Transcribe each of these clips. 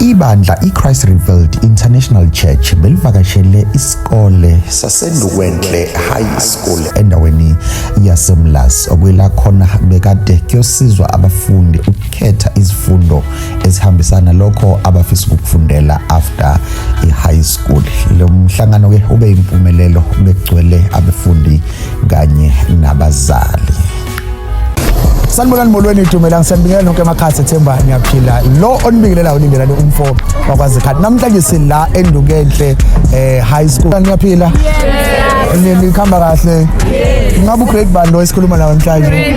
Ibandla iChrist Revealed International Church belivakashele isikole saseNdukwenhle High School endaweni yaseMlazi okuyila khona bekade kuyosizwa abafundi ukukhetha izifundo ezihambisana lokho abafisa ukufundela after i-high school. Lo mhlangano ke ube impumelelo bekugcwele abafundi kanye nabazali. sanibonani molweni idumelang siyanibingelela nonke emakhasi ethemba niyaphila lo onibingelelayo ulindelane umfo wakwazikhati namhlanje sila endukenhle eh high school niyaphila nikhamba kahle ngabe ugrade bani lo esikhuluma nawo namhlanje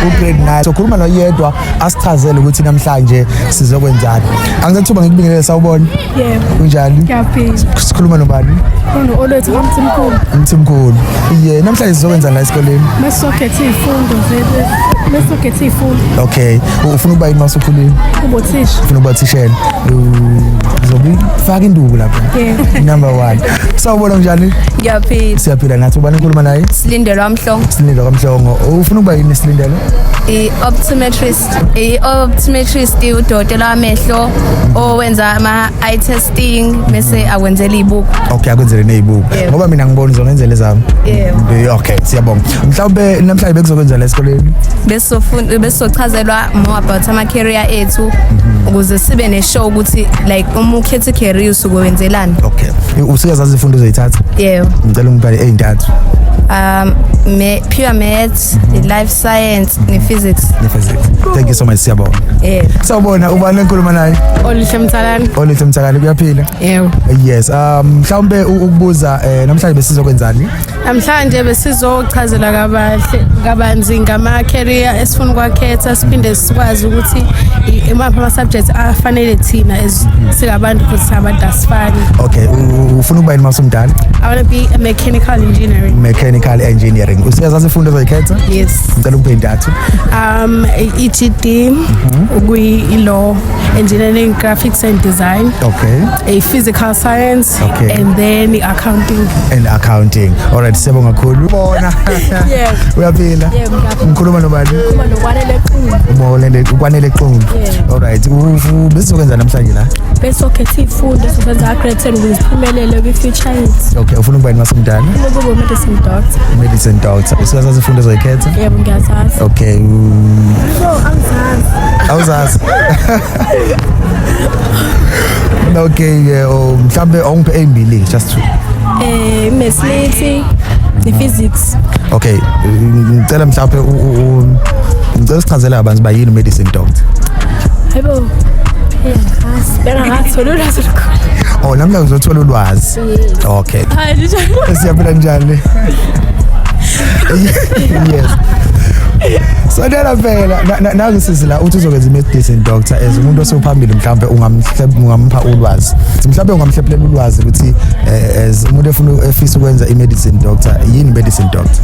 ugrade 9 so khuluma noyedwa asichazele ukuthi namhlanje sizokwenzani angizathuba ngikubingelele sawubona Yebo. Kunjani? Ngiyaphila. Sikhuluma nobani? Khona olethu kamthimkhulu. Umthimkhulu. Ye, namhlanje sizokwenza la esikoleni. Mesokhethe izifundo zethu. Mesokhethe izifundo. Okay. Ufuna ukuba yini masukhulile? Ubothisha. Ufuna ukuba thishela. Uzobi faka induku lapha. Yebo. Number 1. Sawubona njani? Ngiyaphila. Siyaphila nathi ubani ukhuluma naye? Silindelwa mhlongo. Silindelo kamhlongo. Ufuna ukuba yini silindelo? I-optometrist. optometrist i-optometrist udokotela wamehlo owenza ama-eye testing bese akwenzela iy'buko okay akwenzele ney'buko Yebo. ngoba mina ngibona uzongenzela ezami Yebo. Be- okay siyabonga mhlawumbe namhlanje bekuzokwenza la esikoleni Besizofun- besizochazelwa more about ama-career ethu ukuze sibe ne-show ukuthi like uma ukhetha i-career usuke wenzelani okay usuke zazi ifundo uzoyithatha yebo ngicela ungibhale ey'ntathu um me- pure math maths i-life science ne-physics Ne-physics. Thank you so much siyabonga. yebo Sawubona ubani enkuluma naye? oluhle mthalane Olihle Mthakali kuyaphila? yebo Yes. Um mhlawumbe u- ukubuza eh namhlanje besizokwenzani? namhlanje besizochazela kabahle kabanzi ngama-career esifuna ukwakhetha siphinde sikwazi ukuthi i- imaphi ama-subject afanele thina as singabantu because singabantu asifani Okay, u- u- ufuna ukuba yini masumdala? i want to be a Mechanical engineering. Mechanical engineering. Usiyazazi izifundo ozoyikhetha? Yes. Ngicela ukuphe intathu. Um EGD mhm. ukuyi law engineering graphics and design. Okay. A physical science okay. and then accounting. And accounting. All right, siyabonga kakhulu. Bona. Yeah. Uyaphila? Yeah, ngikhuluma nobani? Ngikhuluma nokwanele Qulu. Ubonele ukwanele Qulu. All right. Ubesizokwenza namhlanje la? Besokhetha izifundo sizokwenza grade 10 ngiziphumelele kwi future okay ufuna ukuba yini masemdala ukuba medicine doctor medicine doctor usukaza izifundo zoyikhetha yebo ngiyazazi okay no awuzazi awuzazi okay yeah, oh, mhlambe awungiphe ezimbili just two eh mesmithi ne-physics okay ngicela mhlawumbe ngicela sichazele abantu bayini medicine doctor hayibo bengatholi Oh namla uzothola ulwazi. Okay. Hayi njalo. Siyaphila njani? Yes. Sondela phela nazi sisi la uthi uzokwenza imedicine doctor as umuntu osephambili mhlawumbe ungamhlepha ulwazi. Mhlawumbe ungamhlephelela ulwazi ukuthi eh, as umuntu efuna efisa ukwenza imedicine doctor yini medicine doctor?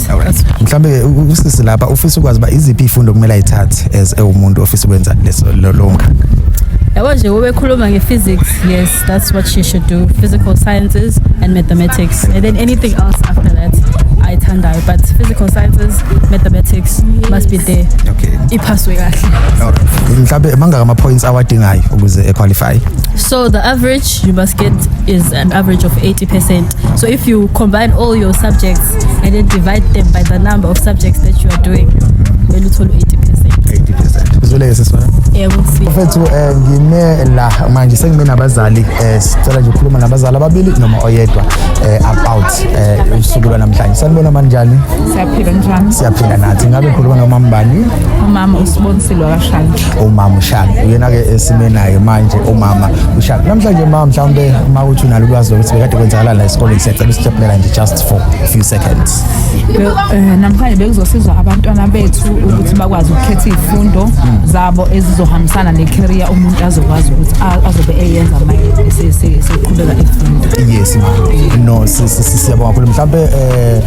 right alright mhlambe usisi lapha ufisa ukwazi ba iziphi ifundo kumele ayithathe as ewumuntu ofisa ukwenza leso lo mkhakha yabo nje ubekhuluma nge-physics yes that's what she should do physical sciences and mathematics and then anything else after that ayithandayo but physical sciences mathematics must be there okay iphaswe kahle alright mhlambe mangaka ama points awadingayo ukuze equalify so the average you must get is an average of 80% So if you combine all your subjects and then divide them by the number of subjects that you are doing, kumele uthole 80%. 80%. Uzoleke sesona. Yebo sisi. Mfethu eh ngime la manje sengime nabazali eh sicela nje ukukhuluma nabazali ababili noma oyedwa eh about eh usuku lwanamhlanje. Sanibona manjani? Siyaphila njani? Siyaphila nathi. Ngabe ngikhuluma nomama bani? Umama usibonisile wakashanje. umama ushaka uyena ke esime naye manje umama ushaka namhlanje mama mhlawumbe uma uthi unalo ulwazi lokuthi bekade kwenzakala la esikoleni siyacela usiteplela nje just for a few seconds eh, namhlanje bekuzosizwa abantwana bethu ukuthi bakwazi ukukhetha izifundo zabo ezizohambisana necareer umuntu azokwazi ukuthi azobe eyenza manje seqhubeka efunda yes mama no siyabonga kakhulu mhlawumbe eh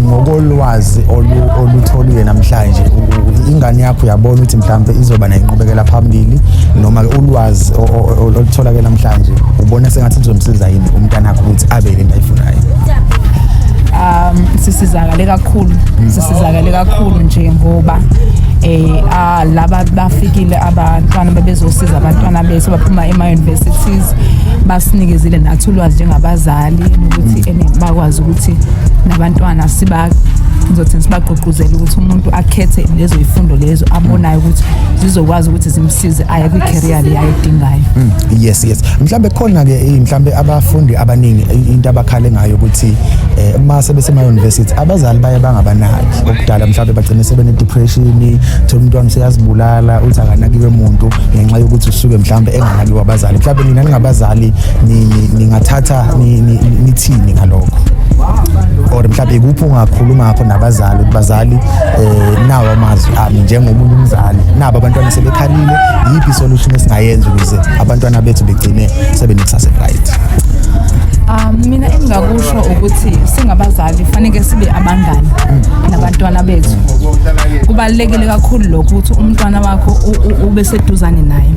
ngokolwazi olutholiwe namhlanje ingane yakho uyabona ukuthi mhlawumbe izoba nenqubekela phambili noma ulwazi olutholakele namhlanje ubona sengathi lizomsiza yini umntana wakho ukuthi abe le nto ayifunayo um sisizakale kakhulu mm. sisizakale kakhulu nje ngoba eh ah, laba bafikile abantwana bebezosiza abantwana bethu baphuma ema universities basinikezile nathi ulwazi njengabazali ukuthi mm. ene bakwazi ukuthi nabantwana siba ngizothi sibagqugquzele ukuthi umuntu akhethe lezo ifundo lezo abonayo ukuthi zizokwazi ukuthi zimsize aye kwi career le ayidingayo mm, yes yes mhlambe khona ke eh, mhlambe abafundi abaningi eh, into abakhale ngayo ukuthi eh, uma sebesema university abazali baye bangabanaki okudala mhlambe bagcine sebene depression thola umntwana useyazibulala uthi akanakiwe umuntu ngenxa yokuthi usuke mhlambe enganakiwe abazali mhlambe nina ningabazali ningathatha nithini ngalokho or mhlawumbe ikuphi ungakhuluma ngakho nabazali ukuthi bazali um nawo amazwi ami njengomunye umzali nabo abantwana sebekhalile yiphi isolution esingayenza ukuze abantwana bethu begcine sebenekusasa right Um mina engingakusho ukuthi singabazali fanele sibe abangani nabantwana bethu. Kubalekile kakhulu lokho ukuthi umntwana wakho ube seduzane naye.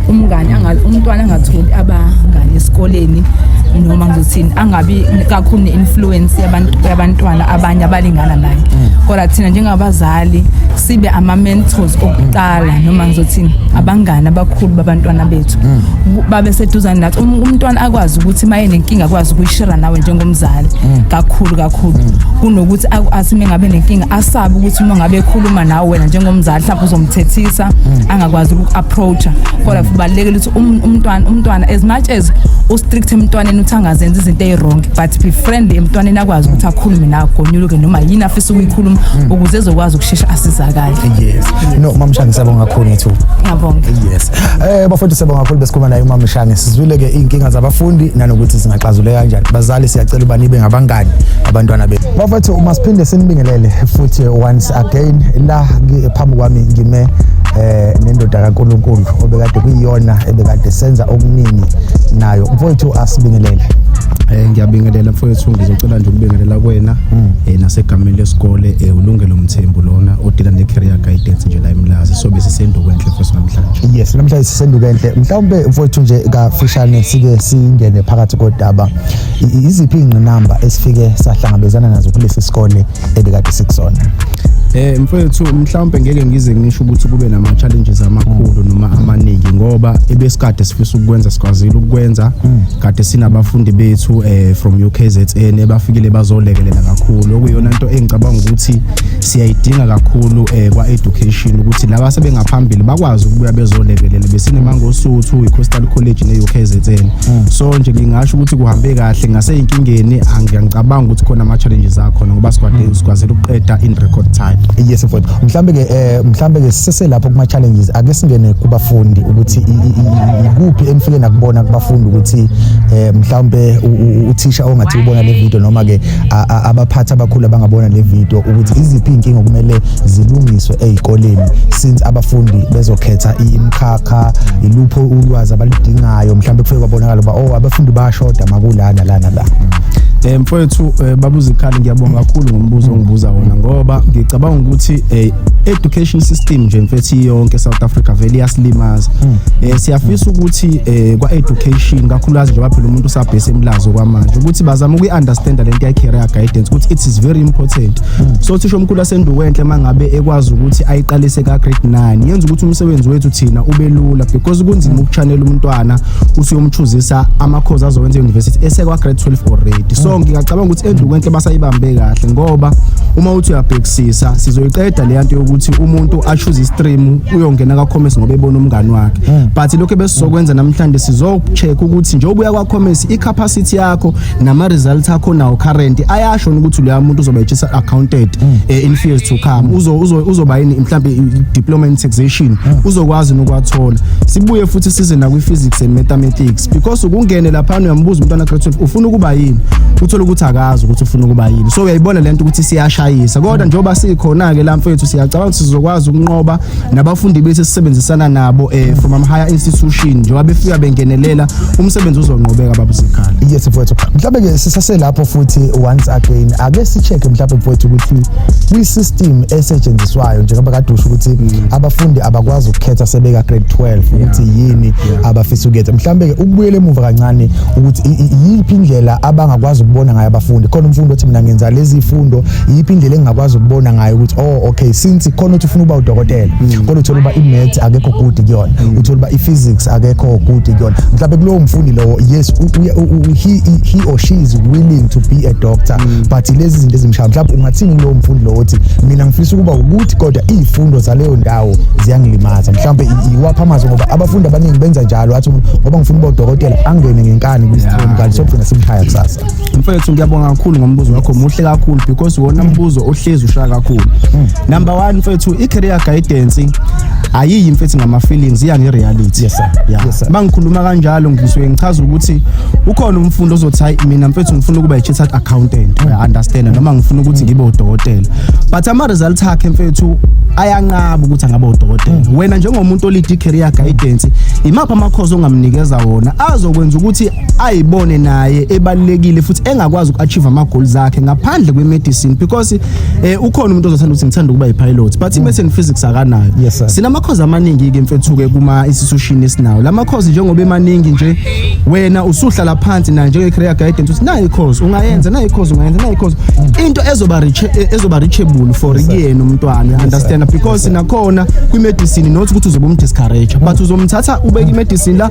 Umngani angazi umntwana angatholi abangani esikoleni noma ngizothini angabi kakhulu ne-influence yabantwana abanye abalingana naye mm. kodwa thina njengabazali sibe ama-mentors okuqala noma ngizothini abangani abakhulu babantwana bethu mm. babe seduzane nathi um, umntwana akwazi ukuthi uma enenkinga akwazi ukuyishira nawe njengomzali mm. kakhulu kakhulu kunokuthi athi uma engabe nenkinga asabe ukuthi uma ngabe ekhuluma nawe wena njengomzali mhlawumbe uzomthethisa angakwazi uku-up approacha kodwa kubalekile ukuthi um, umntwana umntwana as much as u strict emntwaneni uthi angazenza izinto eziwrong but be friendly emntwaneni akwazi ukuthi akhulume nawe gonyuluke noma yini afisa ukuyikhuluma hmm. ukuze ezokwazi ukushesha asizakale yes no mama Shange siyabonga kakhulu ngethu ngiyabonga yes eh bafowethu siyabonga kakhulu besikhuluma naye umama Shange sizwile ke inkinga zabafundi nanokuthi singaxazuleka kanjani bazali siyacela uba nibe ngabangani abantwana bethu bafowethu uma siphinde sinibingelele futhi once again la phambi kwami ngime eh nendoda kaNkuluNkulu obekade kuyiyona ebekade senza okuningi nayo mfowethu asibingelele Eh ngiyabingelela mfowethu ngizocela nje ukubingelela kwena hmm. eh nasegameni lesikole eh ulungelo mthembu lona odila ne career guidance nje la eMlazi so bese senduko enhle mfowethu namhlanje yes namhlanje sisenduko enhle mhlawumbe mfowethu nje kafishane sike singene phakathi kodaba iziphi ingqinamba esifike sahlangabezana nazo kulesi sikole ebikade sikusona Eh mfethu mhlawumbe ngeke ngize ngisho ukuthi kube nama challenges amakhulu noma amaningi ngoba ebesikade sifisa ukwenza sikwazile ukwenza hmm. kade sinabafundi bethu eh from UKZN ebafikile bazolekelela kakhulu okuyona into engicabanga ukuthi siyayidinga kakhulu eh kwa education ukuthi laba sebengaphambili bakwazi ukubuya bezolekelela besinemangosuthu iCoastal College neUKZN Mm. so nje ngingasho ukuthi kuhambe kahle ngaseyinkingeni angiyangicabanga ukuthi khona ama challenges akhona ngoba sikwade mm. sikwazile ukuqeda in record time yes of course mhlambe ke eh, mhlambe ke sise lapho kuma challenges ake singene kubafundi ukuthi ikuphi emfike nakubona kubafundi ukuthi eh, mhlambe uthisha ongathi ubona le video noma ke abaphathi abakhulu abangabona le video ukuthi iziphi inkinga okumele zilungiswe ezikoleni since abafundi bezokhetha imkhakha cha ilupho ulwazi abalidingayo mhlawumbe kufike kwabonakala uba oh abafundi bayashoda makulana lana la Eh mfowethu eh, babuza ikhali ngiyabonga kakhulu ngombuzo ongibuza wona ngoba ngicabanga ukuthi eh, education system nje mfethu yonke South Africa vele yasilimaza hmm. eh siyafisa ukuthi eh, kwa education kakhulukazi njengoba phela umuntu usabhese emlazo kwamanje ukuthi bazama ukuyi understand lento ye career guidance ukuthi it is very important hmm. so thisho omkhulu senduwenhle mangabe ekwazi ukuthi ayiqalise ka grade 9 yenza ukuthi umsebenzi wethu thina ube lula because kunzima ukuchanela umntwana uthi uyomchuzisa amakhozi azowenza university esekwa grade 12 already so ngingacabanga ukuthi enduwenhle basayibambe kahle ngoba uma uthi uyabhekisisa sizoyiqeda le nto yokuthi umuntu achuze istream uyongena ka commerce ngoba ebona umngani wakhe but lokho ebesizokwenza namhlanje sizocheck ukuthi njengoba uya kwa commerce i capacity yakho nama results akho nawo current ayasho ukuthi loya muntu uzoba ejisa accounted mm. eh, in fears to come uzo uzoba yini mhlambe diploma in taxation mm. uzokwazi nokwathola sibuye futhi size na kwi physics and mathematics because ukungene lapha uyambuza umntwana grade 12 ufuna ukuba yini uthola ukuthi akazi ukuthi ufuna ukuba yini so uyayibona lento ukuthi siyashayisa kodwa mm. njengoba sikhona ke la mfethu siyacabanga ukuthi sizokwazi ukunqoba nabafundi bethu esisebenzisana nabo um from amhigher institution njengoba befika bengenelela umsebenzi uzonqobeka babuzikhala yes mfowethu mhlawumbe-ke sisaselapho futhi once again ake si-check-e mhlawumbe mfowethu ukuthi kwi-system esetshenziswayo njengoba kade usho ukuthi mm. abafundi abakwazi ukukhetha sebeka grade 12 ukuthi yini abafisa ukuyetha mhlawumbe-ke ukubuyela emuva kancane ukuthi yiphi indlela abangakwazi ukubona ngayo abafundi khona umfundi othi mina ngenza lezi fundo yiphi indlela engingakwazi ukubona ngayo ukuthi oh okay since khona uthi ufuna uba udokotela mm. kodwa uthola uba imaths akekho good kuyona mm. uthola uba iphysics akekho good kuyona mhlawumbe kulowo mfundi lowo yes he, he or she is willing to be a doctor mm. but lezi zinto ezimshaya mhlawumbe ungathini kulowo mfundi lowo othi mina ngifisa ukuba ukuthi kodwa iy'fundo zaleyo ndawo ziyangilimaza mhlawumbe iwapha amazwi ngoba abafundi abaningi benza njalo athi ngoba ngifuna uba udokotela angene ngenkani kwi-stream kanti sokugcina simshaya kusasa mfethu ngiyabonga kakhulu ngombuzo wakho muhle kakhulu because wona mbuzo ohlezi ushaya kakhulu hmm. number 1 mfethu i career guidance ayiyi mfethu ngama feelings iya nge reality yes sir yeah. yes, sir. mangikhuluma kanjalo ngisuke ngichaza ukuthi ukhona umfundi ozothi hayi mina mfethu ngifuna ukuba i-chartered accountant mm. i understand noma ngifuna ukuthi ngibe udokotela but ama results akhe mfethu ayanqaba ukuthi angaba udokotela mm. wena njengomuntu olidi career guidance imaphi amakhozi ongamnikeza wona azokwenza ukuthi ayibone naye ebalekile futhi engakwazi uku-achieve ama-goals akhe ngaphandle kwe-medicine because eh, ukhona umuntu ozothanda ukuthi ngithanda ukuba yi-pilot but i-maths and physics akanayo Yes, sir. sinamakhozi amaningi-ke mfethu-ke kuma-institution esinawo la makhozi njengoba emaningi nje wena usuhlala phansi naye njenge-career guidance uthi nayi ikhozi ungayenza nayi ikhozi ungayenza nayi ikhozi into ezoba reach- eh, ezoba reachable for kuyena umntwana understand because nakhona kwi-medicine not ukuthi uzobe umdiscourage but uzomthatha ubeke i-medicine la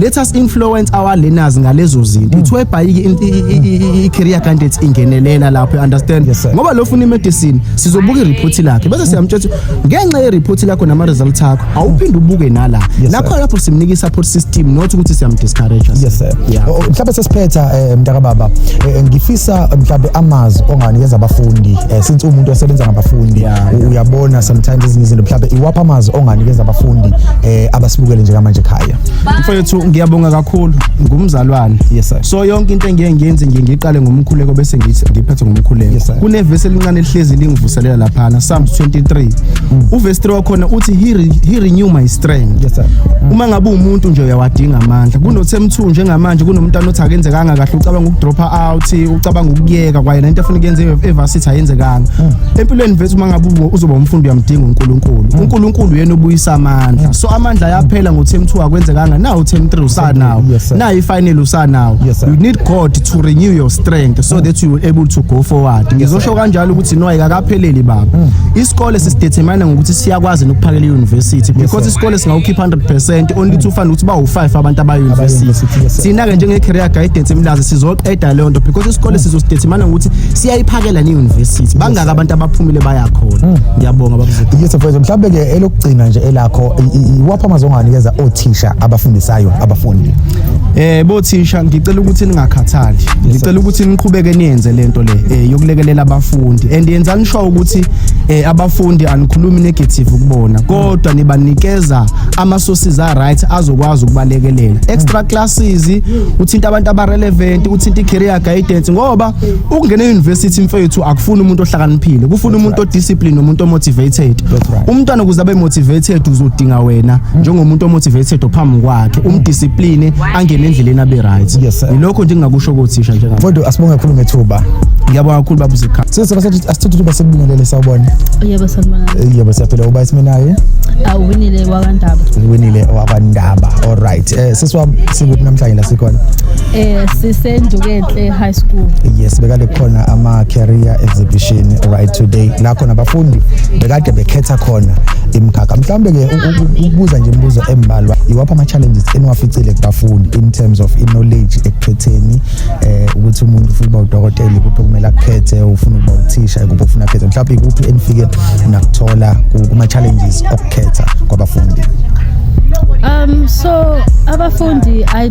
let us influence our learners ngalezo zinto ithiwa ibhayiki i-career candidates ingenelela lapho you understand Yes, sir. ngoba lo funa imedicine sizobuka ireport lakhe bese siyamtshela ukuthi ngenxa yereport lakho nama-results akho awuphinde ubuke nala Yes, sir. nakho lapho simnika i-support system not ukuthi siyamdiscourage yes sir Yeah. O- o- mhlawumbe sesiphetha eh, mntaka baba eh, ngifisa eh, mhlawumbe amazwi onganikeza abafundi eh, since umuntu osebenza ngabafundi Yeah, u- uyabona sometimes ezinye izinto mhlawumbe iwaphi amazwi onganikeza abafundi eh, abasibukele njengamanje ekhaya mfowethu ngiyabonga kakhulu ngumzalwane yes, so yonke into engiye ngiyenze ngiye ngiqale ngomkhuleko bese ngithi ngiphethe ngomkhuleko yes, kunevesi elincane elihlezi lingivuselela laphana psalms 23 mm. uvesi 3 wakhona uthi he, re, he renew my strength yes, mm. uma ngabe umuntu nje uyawadinga amandla kunothemthu njengamanje kunomntana othi akenzekanga kahle ucabanga ukudropha out ucabanga ukuyeka kwaye nento afuna ukuyenze evasithi ayenzekanga mm. empilweni vethu uma ngabe uzoba umfundi uyamdinga unkulunkulu mm. unkulunkulu yena obuyisa amandla so amandla ayaphela ngo-term two akwenzekanga na u-term three usanawo Yes, sir. na i-final usanawo Yes, sir. you need god to renew your strength so that you will able to go forward ngizosho kanjalo ukuthi no ayikakapheleli baba isikole sisidetermine ngokuthi siyakwazi nokuphakela i-university because isikole singawukhipha 100 percent only to find ukuthi bawu-five abantu abayi-university Abayi-university, yes, sir. thina-ke njenge-career guidance emlazi sizoqeda leyo nto because isikole sizosidetermine ngokuthi siyayiphakela ne-university bangaki abantu abaphumile bayakhona ngiyabonga babuzethu yes mfethu mhlawumbe ke elokugcina nje elakho iwaphi amazwi onganikeza othisha abafundisayo abafundi eh bothisha ngicela ukuthi ningakhathali ngicela ukuthi niqhubeke niyenze lento le eh, yokulekelela abafundi and yenzani sho ukuthi eh, abafundi anikhulumi negative kubona kodwa nibanikeza ama sources a right azokwazi ukubalekelela extra classes uthinta abantu aba relevant uthinta i career guidance ngoba ukungena e-university mfethu akufuni umuntu ohlakaniphile kufuna umuntu odiscipline nomuntu omotivated umntwana ukuze abe motivated uzodinga wena njengomuntu omotivated ophambi kwakhe umdiscipline angene endleleni abe right yilokho nje ngingakusho kothisha njengabe kodwa asibonge kakhulu ngethuba ngiyabonga kakhulu baba uzikha sisi basathi asithuthi uba sekubingelele sawubona yebo sanibona eh, yebo siyaphila uba isimenaye awuwinile wakandaba uwinile wakandaba all right eh sisi wami sikuphi namhlanje la sikhona eh sisendukenhle high school yes bekade khona ama career exhibition right today la khona abafundi bekade bekhetha khona imkhakha mhlawumbe ke ukubuza nje imibuzo embalwa iwapha ama challenges eniwaficile kubafundi in terms of in knowledge ekukhetheni eh ukuthi umuntu ufuna uba udokotela kuphi kumele akhethe ufuna ukuba uthisha kuphi ufuna akhethe mhlawumbe kuphi enifike nakuthola kuma challenges okukhetha kwabafundi um so abafundi i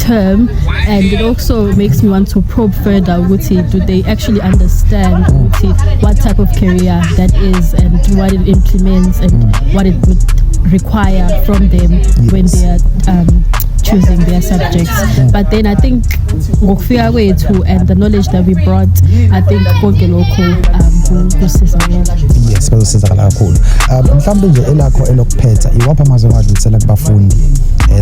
term and it also makes me want to probe further ukuthi do they actually understand ukuthi what type of career that is and what it implements and what it would require from them yes. when they are um, choosing their subjects but then i think ngokufika kwethu and the knowledge that we brought i think konke lokho um kusizakala yes bazosizakala kakhulu um mhlawumbe nje elakho elokuphetha iwaphi amazwi ongadlulisela kubafundi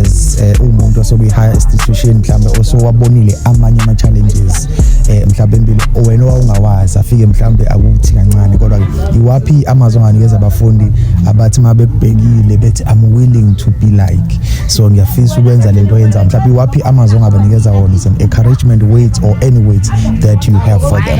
as eh umuntu osokuyi higher institution mhlambe osowabonile amanye ama challenges eh mhlambe impilo wena wawungawazi afike mhlambe akuthi kancane kodwa iwaphi amazwi anganikeza abafundi abathi mabebhekile bethi i'm willing to be like so ngiyafisa ukwenza lento yenza mhlambe iwaphi amazwi ongabanikeza wona is an encouragement weight or any weight that you have for them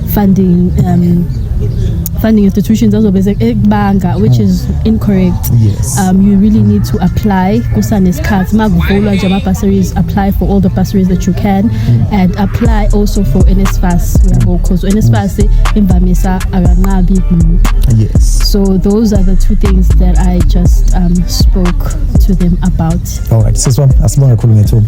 funding um, funding institutions azobe ekubanga which is incorrect yes. um, you really need to apply kusanesikhathi makuvulwa nje ama-bursaries apply for all the bursaries that you can mm. and apply also for nsfas uyabo because nsfas mm. imvamisa akanqabi yes so those are the two things that i just um, spoke to them about all right siswam asibonge khulu ngethuba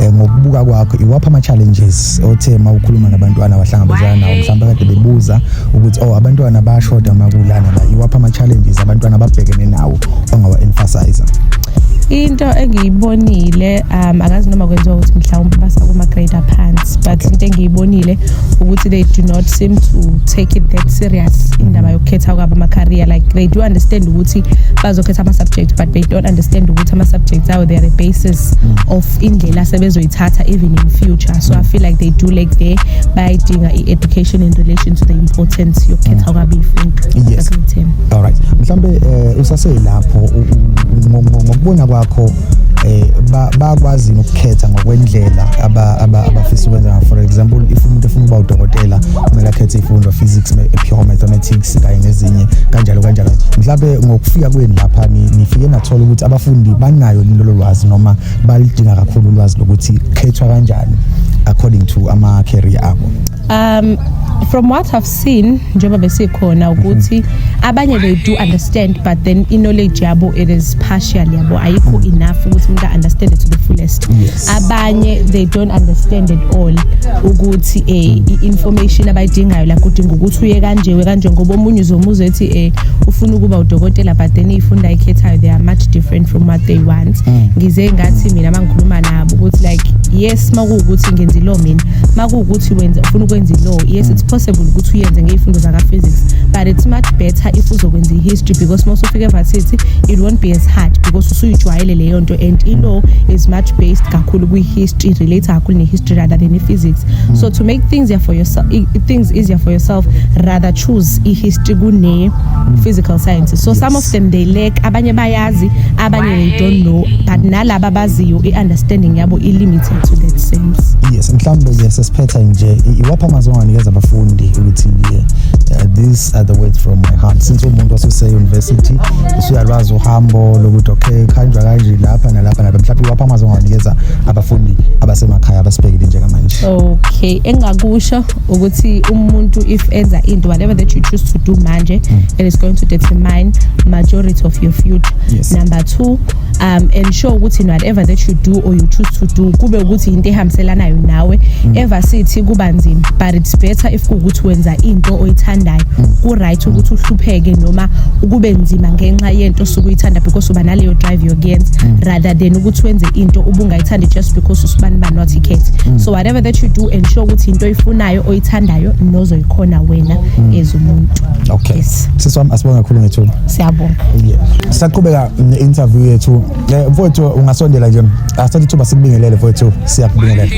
eh, ngokubuka kwakho iwaphi ama-challenges othe uma ukhuluma nabantwana abahlangabezana nawo mhlawumbe kade bebuza ukuthi o oh, abantwana bayashoda makulana la iwaphi ama-challenges abantwana ababhekene nawo ongawa-emphasiza into engiyibonile um akazi noma kwenziwa ukuthi mhlawumbe basakuma-grade aphansi but into engiyibonile ukuthi they do not seem to take it that serious indaba yokukhetha kwabo ama-career like they do understand ukuthi bazokhetha ama-subject but they don't understand ukuthi ama subjects awo they are the basis mm. of indlela sebezoyithatha even in future so i feel like they do like there bayidinga i education in relation to the importance yokukhetha mm. kwabe ifunto yes all right mhlambe eh, usaselapho ngokubona kwakho eh bakwazi ukukhetha ngokwendlela abafisa ukwenza for example if umuntu efuna ukuba udokotela kumele akhethe ifundo physics pure mathematics Maths kanye nezinye kanjalo kanjalo mhlawumbe ngokufika kwenu lapha nifike nathola ukuthi abafundi banayo lelo lwazi noma balidinga kakhulu ulwazi lokuthi khethwa kanjani according to ama career abo um from what i've seen njengoba besikhona ukuthi abanye they do understand but then i knowledge yabo it is partial yabo ayikho enough ukuthi umuntu understand it to the fullest yes. abanye they don't understand at all ukuthi eh i-information abayidingayo la kudinga ukuthi uye kanje we kanje ngoba omunye uzomuza ethi eh ufuna ukuba udokotela but then ifunda ayikhethayo they are much different from what they want mm. ngize ngathi mina mangikhuluma nabo ukuthi like yes makuwukuthi ngenza ilaw mina makuwukuthi wenza ufuna ukwenza ilaw yes mm. it's possible ukuthi uyenze ngey'fundo zaka-physics but it's much better if uzokwenza i-history because mosufika evarsity it won't be as hard because usuyijwayele leyo nto and ilaw is much based kakhulu kwi-history relate kakhulu ne-history rather than i-physics mm. so to make things easier for yourself things easier for yourself rather choose i-history kune-physical sciences so yes. some of them they lack abanye bayazi abanye they don't know but nalaba baziyo i-understanding yabo i-limited to that sense yes mhlawumbe nje sesiphetha nje iwaphi amazwi anganikeza abafundi ukuthi uh, these are the words from my heart since umuntu wasuse-university usuyalwazi uhambo lokuthi okay khanjwa kanje lapha nalapha nalapha mhlawumbe iwaphi amazwi ongawanikeza abafundi abasemakhaya abasibhekile njengamanje okay engakusho ukuthi umuntu if enza into whatever that you choose to do manje mm. it is going to determine majority of your future yes. number two um and sure ukuthi in whatever that you do or you choose to do kube ukuthi into ehambiselanayo nawe mm. ever sithi kuba nzima but it's better if kuwukuthi wenza into oyithandayo mm. ku-right ukuthi uhlupheke noma ukube nzima ngenxa yento osuke uyithanda because uba naleyo drive yokuyenza mm. rather than ukuthi wenze into ubungayithandi just because usubani ba not icat so whatever that you do and sure ukuthi into oyifunayo oyithandayo nozoyikhona wena as umuntu okay yes. siswami asibonga kakhulu ngethuba siyabonga yeah. saqhubeka interview yethu eh, mfowethu ungasondela nje asithathe ithuba sikubingelele mfowethu siyakubingelela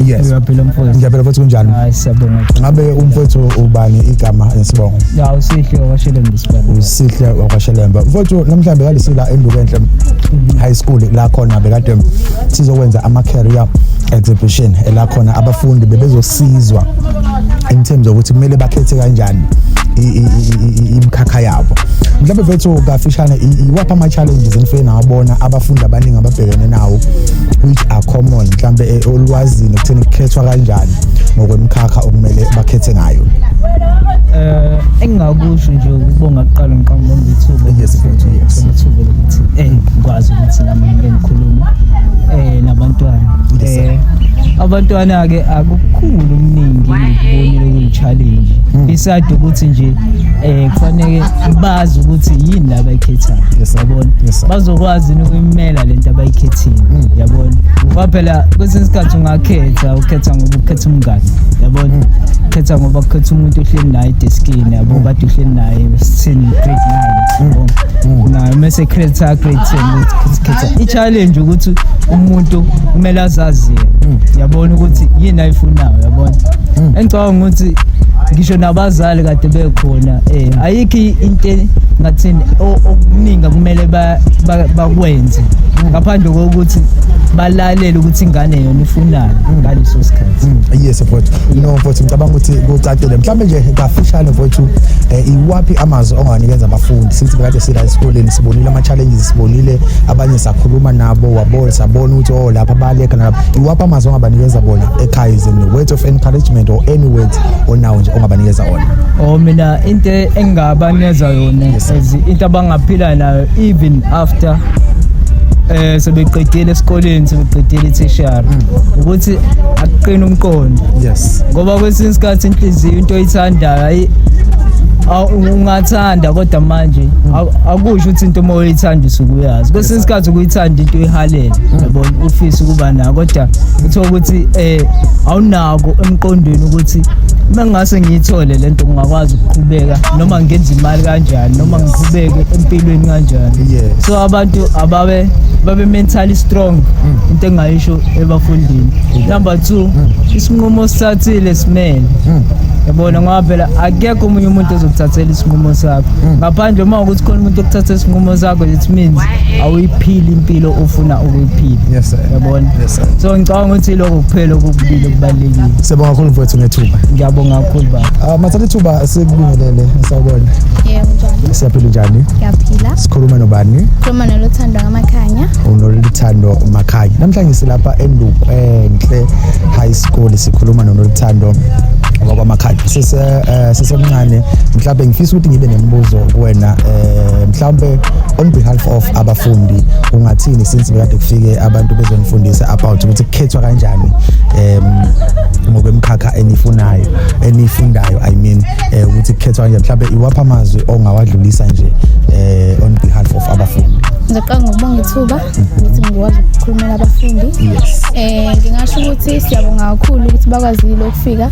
yes ngiyaphila mfowethu ngiyaphila mfowethu kunjani hayi siyabonga ngabe umfowethu ubani igama nesibongo ya usihle wakwashelembe isibongo usihle wakwashelembe mfowethu namhlanje bekalisila endukenhle mhm. high school la khona bekade sizokwenza ama career exhibition la khona abafundi bebezosizwa in terms of ukuthi kumele bakhethe kanjani imikhakha yabo mhlawumbe vethu kafishane iwaphi ama-challenges enifike nawabona abafundi abaningi ababhekene nawo which are common mhlawumbe eh, olwazini ekutheni kukhethwa kanjani ngokwemkhakha okumele bakhethe ngayo eh engingakusho nje ukubonga kuqala ngiqamba bonga ithuba yes mfethu yes ithuba lokuthi eh ngikwazi ukuthi nami ngikhulume eh nabantwana eh, abantwana ke akukhulu umningi ngibonile kuyi challenge hmm. isade ukuthi nje eh kufanele bazi ukuthi yini la bayikhethayo yabona bazokwazi ukuyimela lento abayikhethile hmm. yabona ngoba phela kwesinye isikhathi ungakhetha ukhetha ngoba ukhetha umngane yabona hmm. ukhetha ngoba ukhetha umuntu ohleli naye deskini yabo kade uhleli naye sithini grade 9 yabo naye mase credit grade 10 i-challenge ukuthi umuntu kumele azazi yena mm. yabona ukuthi yini ayifunayo yabona mm. engicabanga ukuthi ngisho nabazali kade bekhona eh ayikho into ngathini okuningi kumele bakwenze mm. ngaphandle kokuthi balalele ukuthi ingane yona ifunani mm. ngaleso sikhathi mm. yes mfowethu no mfowethu ngicabanga ukuthi kucacile mhlawumbe nje kafishane mfowethu eh, iwaphi amazwi onganikeza abafundi since kade sila esikoleni sibonile ama-challenges sibonile abanye sakhuluma nabo wabona sabona ukuthi o oh, lapha baleka nalapha iwaphi amazwi ongabanikeza bona ekhaya izini words of encouragement or any words onawo nje ongabanikeza wona o oh, mina into engingabanikeza yona into abangaphila nayo even after eh sebeqedile esikoleni sebeqedile i-tertiary mm. ukuthi akuqina umqondo yes ngoba kwesinye isikhathi inhliziyo into oyithandayo ayi ungathi Anda kodwa manje akusho ukuthi into uma uyithanda usuke uyazi kwesinye isikhathi ukuyithanda into uyihalele yabona ufisa ukuba nayo kodwa uthola ukuthi eh awunako emqondweni ukuthi uma ngingase ngiyithole le nto ngingakwazi ukuqhubeka noma ngenza imali kanjani noma ngiqhubeke empilweni kanjani Yes. so abantu ababe babe mentally strong Mm. into engayisho ebafundini number two isinqumo osithathile simele Mm. yabona ngoba phela ake akekho omunye umuntu ozokuthathela isinqumo sakho mm. ngaphandle uma ukuthi khona umuntu okuthatha isinqumo sakho it means awuyiphili impilo ofuna ukuyiphila yabona so ngicabanga ukuthi lokho kuphela okubulile kubalulekile siyabonga kakhulu mfowethu ngethuba ngiyabonga kakhulu baba ah, mathatha ithuba sikubingelele sawubona siyaphila njani ngiyaphila sikhuluma nobani khuluma noluthando ngamakhanya unoluthando makhanya namhlanje silapha endukwenhle high school sikhuluma nonoluthando wakwamakhanya eh, sisemncane mhlawumbe ngifisa ukuthi ngibe nemibuzo kuwena eh mhlawumbe on behalf of abafundi ungathini since bekade kufike abantu bezonifundisa about ukuthi kukhethwa kanjani em ngokwemkhakha enifunayo enifundayo i mean eh, ukuthi kukhethwa kanjani mhlawumbe iwapha amazwi ongawadlulisa nje eh on behalf of abafundi ngizoqala ngokubonga ithuba ukuthi ngikwazi ukukhulumela abafundi yes eh ngingasho ukuthi siyabonga kakhulu ukuthi bakwazile ukufika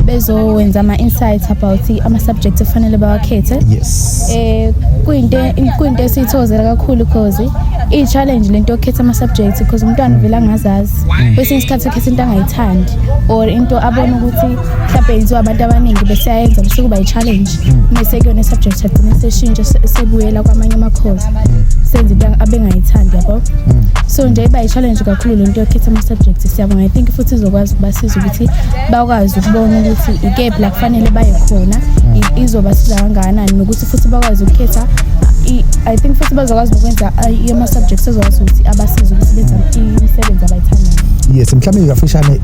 bezowenza ama-insight about ama-subject ekufanele bawakhethe yes eh kuyinto kuyinto esiyithozela kakhulu cause i-challenge lento yokukhetha ama-subject because umntwana uvele angazazi kwesinye isikhathi ukhetha into angayithandi or into abona ukuthi mhlawumbe yenziwa abantu abaningi beseyayenza bese kuba yi-challenge mese kuyona i-subject agcine seshintshe sebuyela kwamanye amakhozi senze into abengayithandi yabo so nje iba yi-challenge kakhulu lento yokukhetha ama-subject siyabonga i think futhi izokwazi ukuba siza ukuthi bakwazi ukubona ukuthi ikephi la kufanele baye khona izobasiza kangakanani nokuthi futhi bakwazi ukukhetha i think futhi bazokwazi nokwenza ama-subjects ezokwazi ukuthi abasize ukuthi benza imisebenzi abayithandayo yes mhlawumbe kafishane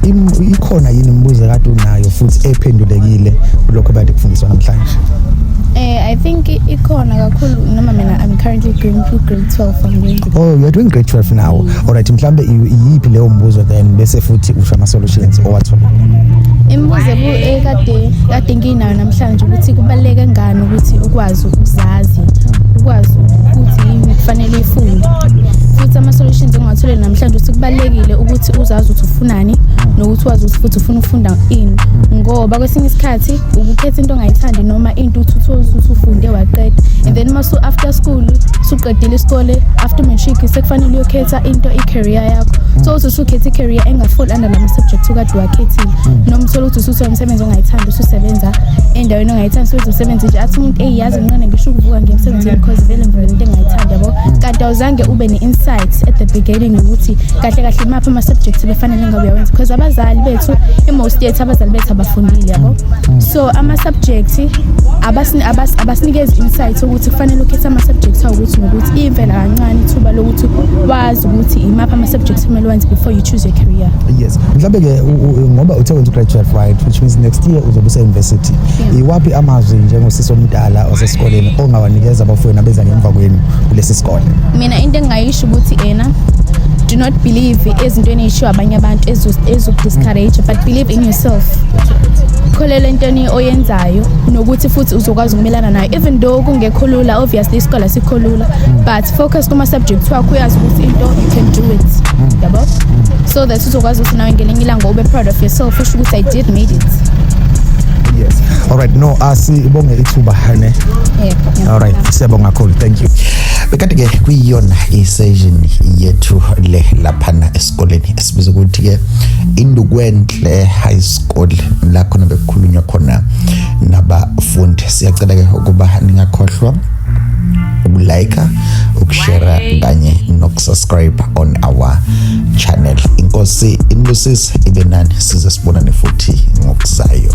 ikhona yini imibuzo kade unayo futhi ephendulekile kulokho kade kufundiswa namhlanje Eh, I think ikhona kakhulu noma mina I'm currently going through grade 12 I'm going oh you're doing great 12 now mm. all right mhlambe iyiphi leyo mbuzo then bese futhi usho ama solutions owathola imibuzo ekade eh, kade nginayo namhlanje ukuthi kubaleke ngani ukuthi ukwazi ukuzazi ukwazi ukuthi yini kufanele ifunde futhi ama solutions engiwathole namhlanje ukuthi kubalekile ukuthi uzazi ukuthi ufunani nokuthi wazi ukuthi futhi ufuna ukufunda ini ngoba kwesinye isikhathi ukukhetha into ongayithandi noma into uthuthuka usufunde waqeda and then masu after school suqedile isikole after matric sekufanele uyokhetha into i-career yakho so uthi usukhetha i-career engafall under lama subject ukade wakhethile noma uthole ukuthi usuthola umsebenzi ongayithandi ususebenza endaweni ongayithandi so uzosebenza nje athi umuntu eyazi nqane ngisho ukuvuka nje emsebenzini because vele ngivele into engayithandi yabo kanti awuzange ube ne-insight at the beginning ukuthi kahle kahle maphi ama-subject befanele ngabe uyawenza because abazali bethu yethu i-most yethu abazali bethu abafundile yabo so ama-subject abasinikezi insight ukuthi kufanele ukhethe ama-subject awukuthi ngokuthi iyimvela kancane ithuba lokuthi wazi ukuthi imaphi ama-subject kumele wenze before you choose your career yes mhlawumbe-ke ngoba uthe wenza ugraduate right which means next year uzobe use-university iwaphi amazwi njengosisi omdala osesikoleni ongawanikeza abafowenu abeza ngemva kwenu kulesi sikole mina into engingayisho sho ukuthi ena do not believe ezintweni eyishiwo abanye abantu ezokudiscourage but believe in yourself kholelwa entweni oyenzayo nokuthi futhi uzokwazi ukumelana nayo even though kungekho lula obviously isikole sikho lula but focus kuma-subject wakho uyazi ukuthi into you can do it yabo so that uzokwazi ukuthi nawe ngelinye ilanga ube proud of yourself usho ukuthi i did made it yes all right no asibonge ithuba ne yeah, yeah. all right siyabonga kakhulu thank you bekade ke kuyiyona isession yethu le laphana esikoleni esibiza ukuthi ke indukwenhle high school la khona bekukhulunywa khona nabafundi siyacela ke ukuba ningakhohlwa ukulike ukushera kanye nokusubscribe on our channel inkosi inibusise ibe nani size sibonane futhi ngokuzayo